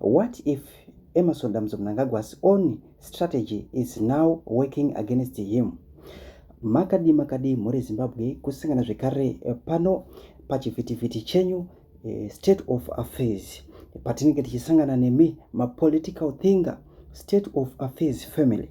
What if Emerson Dambudzo Mnangagwa's own strategy is now working against him? Makadi makadi mhuri Zimbabwe kusangana zvekare eh, pano pachivhitivhiti chenyu eh, state of affairs patinenge tichisangana nemi mapolitical thinger state of affairs family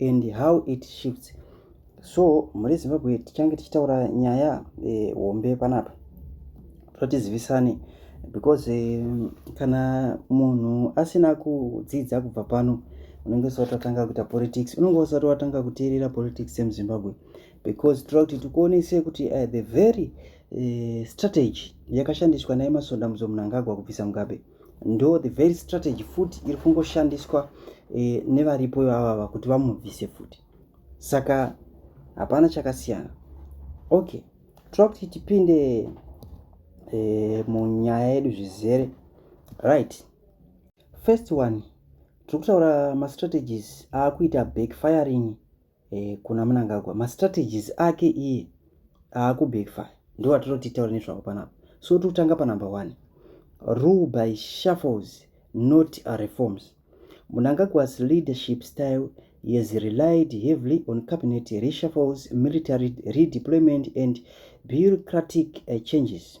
and how it shifts so mhuri yezimbabwe tichange tichitaura nyaya eh, hombe eh, panapa totizivisane because eh, kana munhu asina kudzidza kubva pano unenge usati watanga kuita politics unenge usati watanga kuteerera politics yemuzimbabwe because tira kuti tikuonese kuti uh, the very uh, strategy yakashandiswa naye masonda muzomunangagwa kubvisa mugabe ndo the very strategy futi iri kungoshandiswa e, nevaripo ivavava kuti vamubvise futi saka hapana chakasiyana okay tira kuti tipinde e, munyaya yedu zvizere right first one tiri kutaura mastrategies aakuita backfiring eh, kuna munangagwa mastrategies ake iye aakubackfire ndo atiro titaura nezvavo panapa so tiri kutanga panumber one rule by shuffles not reforms munangagwa's leadership style has relied heavily on cabinet reshuffles military redeployment and bureaucratic uh, changes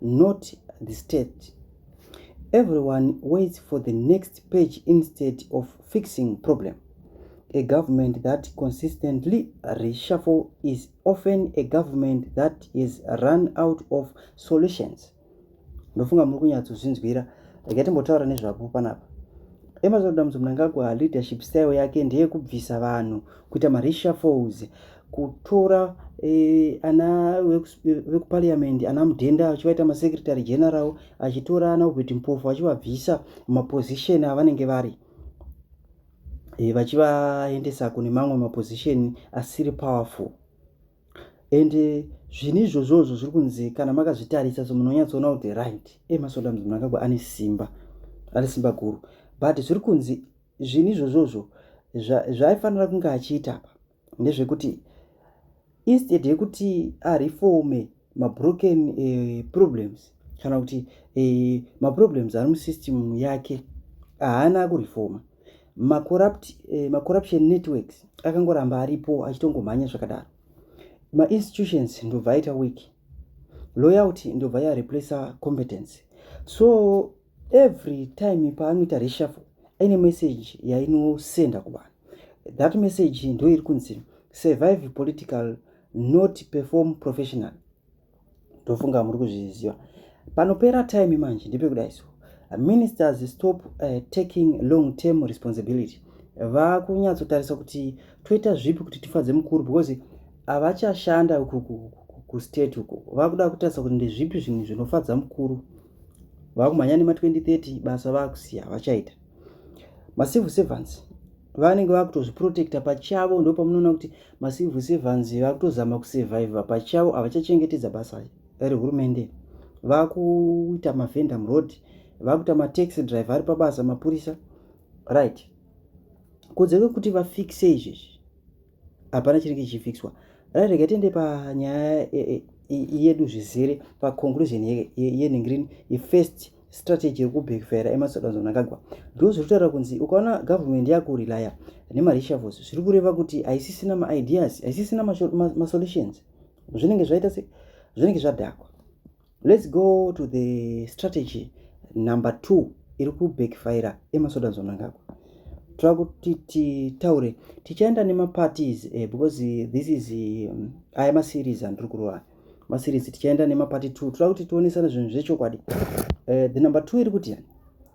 not the state everyone waits for the next page instead of fixing problem a government that consistently reshuffle is often a government that is run out of solutions ndofunga muri kunyatsozvinzwira rega timbotaura nezvapo panapa emerson damudzi munangagwa leadership style yake ndeyekubvisa vanhu kuita mareshuffles kutora eh, ana vekuparliament ana mudhenda achivaita masecretary general achitora ana ubert mpofu achivabvisa maposition avanenge vari eh, vachivaendesa kune mamwe maposition asiri powerful and eh, zvinhu izvozvozvo zviri kunzi kana makazvitarisa so munhu onyatsoona kuti the right emasoda eh, munhu akagwa ane simba ane simba guru but zviri kunzi zvinhu izvozvozvo zvaifanira kunge achiita apa ndezvekuti instead yekuti areforme mabroken eh, problems kana kuti eh, maproblems ari musystem yake haana kurefoma eh, macorruption eh, networks akangoramba aripo achitongomhanya zvakadaro mainstitutions ndobva aita week loyalty ndobva yareplacer competence so every time paanoita reshuffle aine message yainosenda kuvanhu that message ndo iri kunzi survive political not perform professional ndofunga muri kuzviziva panopera time manje ndepekudai so ministers stop uh, taking long term responsibility vakunyatsotarisa kuti toita zvipi kuti tifadze mukuru because havachashanda kustate uko vakuda kutarisa kuti ndezvipi zvinhu zvinofadza mukuru vakumhanya nema 2030 basa vakusiya vachaita macivil servants vanenge vakutozviprotecta pachavo ndo pamunoona kuti macivil servants vakutozama kusurviva pachavo havachachengetedza basa rehurumende vakuita mavenda muroad vakuita mataxi driver ari pabasa mapurisa right kodzero kuti vafixe izvezvi hapana chiri kichifixwa right rega tiende panyaya yedu zvizere paconclusion yenhingirini yefirst strategy yekubackfira emasodanzo nakagwa ndo zviri kutaura kunzi ukaona government yakurelaya nemarishavos zviri kureva kuti haisisina maideas haisisina masolutions zvinenge zvaita se zvinenge zvadhakwa Let's go to the strategy number two iri kubackfire emasoda zonangagwa tava kuti titaure tichaenda nemaparties eh, because this is um, aya maseries andiri kurova maseries tichaenda nemaparty two toda kuti tionesana zvinhu zvechokwadi eh, the number two iri kuti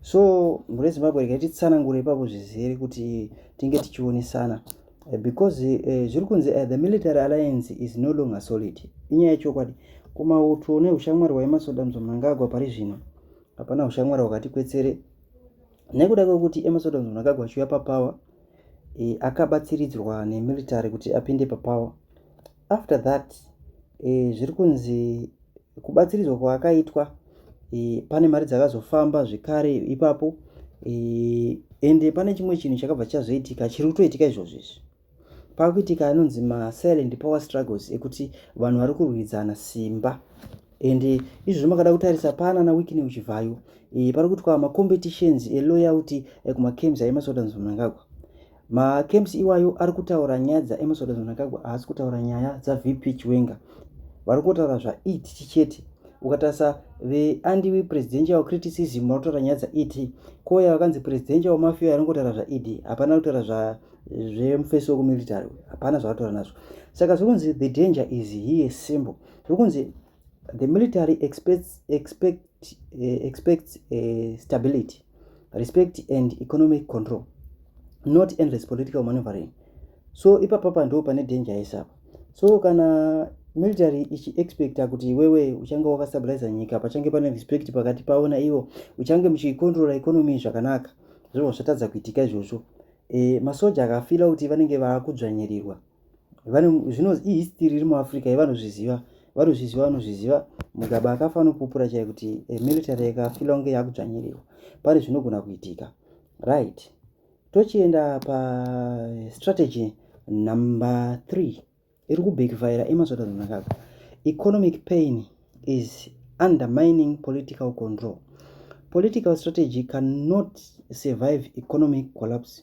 so mhuri yezimbabwe rega titsanangure ipapo zvizere kuti tinge tichionesana eh, because eh, zviri kunzi eh, the military alliance is no longer solid inyaya yechokwadi kumauto neushamwari hwaemasoda mzomnangagwa pari zvino hapana ushamwari hwakati kwetsere nekuda kwekuti emasoda mzomnangagwa achiuya papower e, akabatsiridzwa nemilitary kuti apinde papower after that e, zviri kunzi kubatsiridzwa kwaakaitwa e, pane mari dzakazofamba zvekare ipapo e, ende pane chimwe chinhu chakabva chazoitika chiri kutoitika izvozvo izvi pakuitika anonzi masilent power struggles ekuti vanhu vari kurwidzana simba ende izvozvo makada kutarisa pana na wikine uchivhayo e, pari kuitwa macompetitions eloyalty ekumacames aimasotanzomnangagwa macamps iwayo ari kutaura nyaya dzaemerson mnangagwa haasi kutaura nyaya dzavp chiwenga vari kutaura zvaet chete ukatarisa veandiwi presidential criticism vari kutaura nyaya dzaet koya vakanzi presidential mafia ari kutaura zvaed hapana kutaura zvemufesi wekumilitary hapana zvavari kutaura nazvo saka zviri kunzi the danger is here simple zviri kunzi the military expects, expect, uh, expects uh, stability, respect and economic control, not endless political maneuvering. So ipa papa ndo pane danger yese apa. So kana military ichi expecta kuti iwewe uchange wakastabiliza nyika pachange pane respect pakati pavo naivo uchange muchicontrola economy zvakanaka zvinova zvatadza kuitika izvozvo e, masoja akafila kuti vanenge vakudzvanyirirwa zvino ihistory iri muafrica yevanozviziva vanozviziva vanozviziva mugaba akafa anopupura chai kuti eh, military yakafila kunge yakudzvanyirirwa pane zvinogona kuitika right tochienda pastrategy eh, number three iri kubekifayira emasvotaunakaga economic pain is undermining political control political strategy cannot survive economic collapse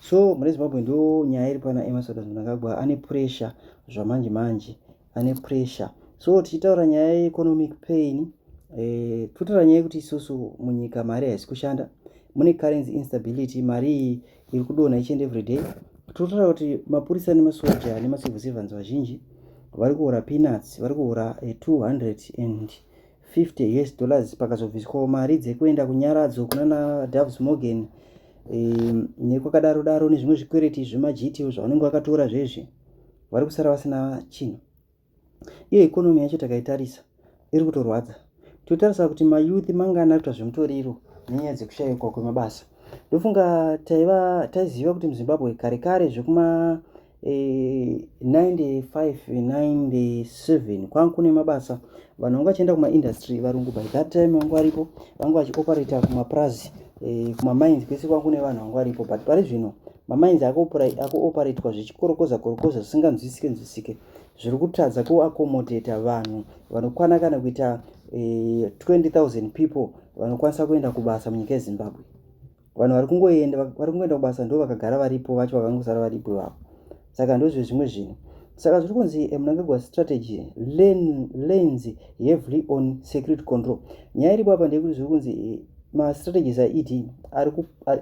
so mune zimbabwe ndo nyaya iri pana emasoda mnangagwa ane pressure zvamanje manje ane pressure so tichitaura nyaya yeeconomic pain eh, totaura nyaya yekuti isusu munyika mari haisi kushanda mune currency instability mari iyi iri kudonha ichienda everyday totaura kuti mapurisa nemasoja nemacivil servants vazhinji vari kuhura peanuts vari kuhura 200 eh, and 50 us dollars pakazobviswawo mari dzekuenda kunyaradzo kunana doves morgan um, nekwakadaro daro nezvimwe zvikwereti zvemajiti zvavanenge vakatora zvezvi vari kusara vasina chinhu iyo ikonomi yacho takaitarisa iri kutorwadza totarisa kuti mayouth mangani ari kuita zvemutoriro nenyaya dzekushayikwa kwemabasa ndofunga taiva taiziva kuti muzimbabwe kare kare zvekuma 9597 kwanga kune mabasa vanhu vanga vachienda kumaindustry varungu by that time vanga varipo vanga vachioperator kumapurazi eh, kumamines kwese kwanga kune vanhu vanga varipo but pari zvino mamines akuoperatwa zvichikorokoza korokoza zvisinganzwisike nzwisike zviri kutadza kuakomodheta vanhu vanokwana kana kuita 20 eh, 000 people vanokwanisa kuenda kubasa munyika yezimbabwe vanhu vari kungoenda vari kungoenda kubasa ndo vakagara varipo vacho vakangosara varipo ivavo saka ndozvezvimwe zvinhu saka zviri kunzi eh, munangagwa strategy lens heavily on security control nyaya iripo apa ndeyekuti zviri kunzi eh, mastrategies aed ari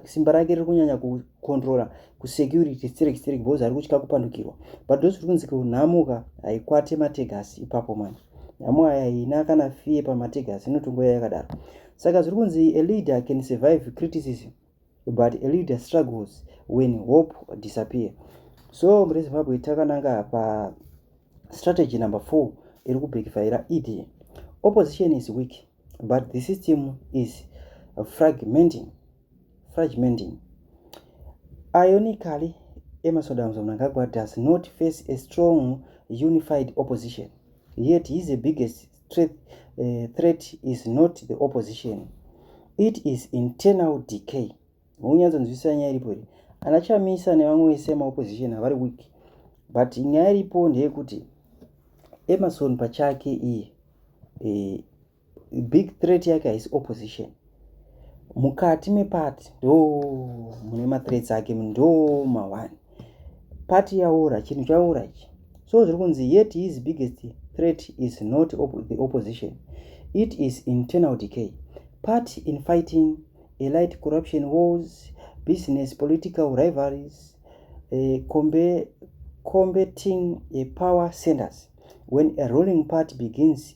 simba rake riri kunyanya kucontrola kusecurity sterek sterek because ari kutya kupandukirwa but ndozviri kunzi kunhamuka haikwate mategasi ipapo manje nyamwaya iyi ina kana fee pamatigers inotongo yaya yakadaro saka zviri kunzi a leader can survive criticism but a leader struggles when hope disappear so muri zimbabwe takananga pa strategy number four iri kubhekifaira ed opposition is weak but the system is fragmenting fragmenting ironically emerson damson mnangagwa does not face a strong unified opposition yet his the biggest threat, uh, threat is not the opposition it is internal decay unyanzonzwisisa nyaya iripo iri ana chamisa nevamwe vese yemaopposition havari weak but nyaya iripo ndeyekuti emerson pachake iye e, big threat yake haisi opposition mukati mepati ndo mune mathreats ake ndo mawani pati yaora chinhu chaora ichi so zviri kunzi yet his biggest threat is not op the opposition it is internal decay part in fighting elite corruption wars business political rivalries uh, combe, combating uh, power centers when a ruling party begins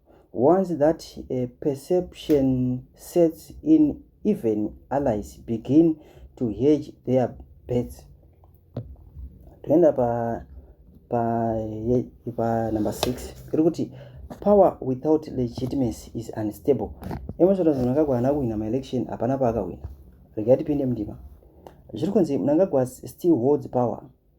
Once that uh, perception sets in, even allies begin to hedge their bets. Toenda pa pa pa number 6 iri kuti power without legitimacy is unstable. Emerson Mnangagwa haana kuwina maelection, hapana paakawina. Regai tipinde mundima. Zviri kunzi Mnangagwa still holds power.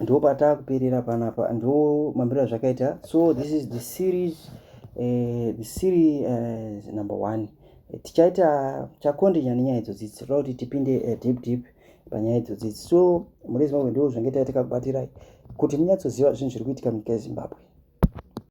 ndo patakuperera panapa ndo mambiro azvakaita so this is the series uh, the series uh, number one eh, tichaita chakonde nyaya nenyaya idzodzi tinoda kuti tipinde uh, deep deep panyaya idzodzi so mune zimbabwe ndo zvange taita takakubatirai kuti munyatsoziva zvinhu zviri kuitika munyika yezimbabwe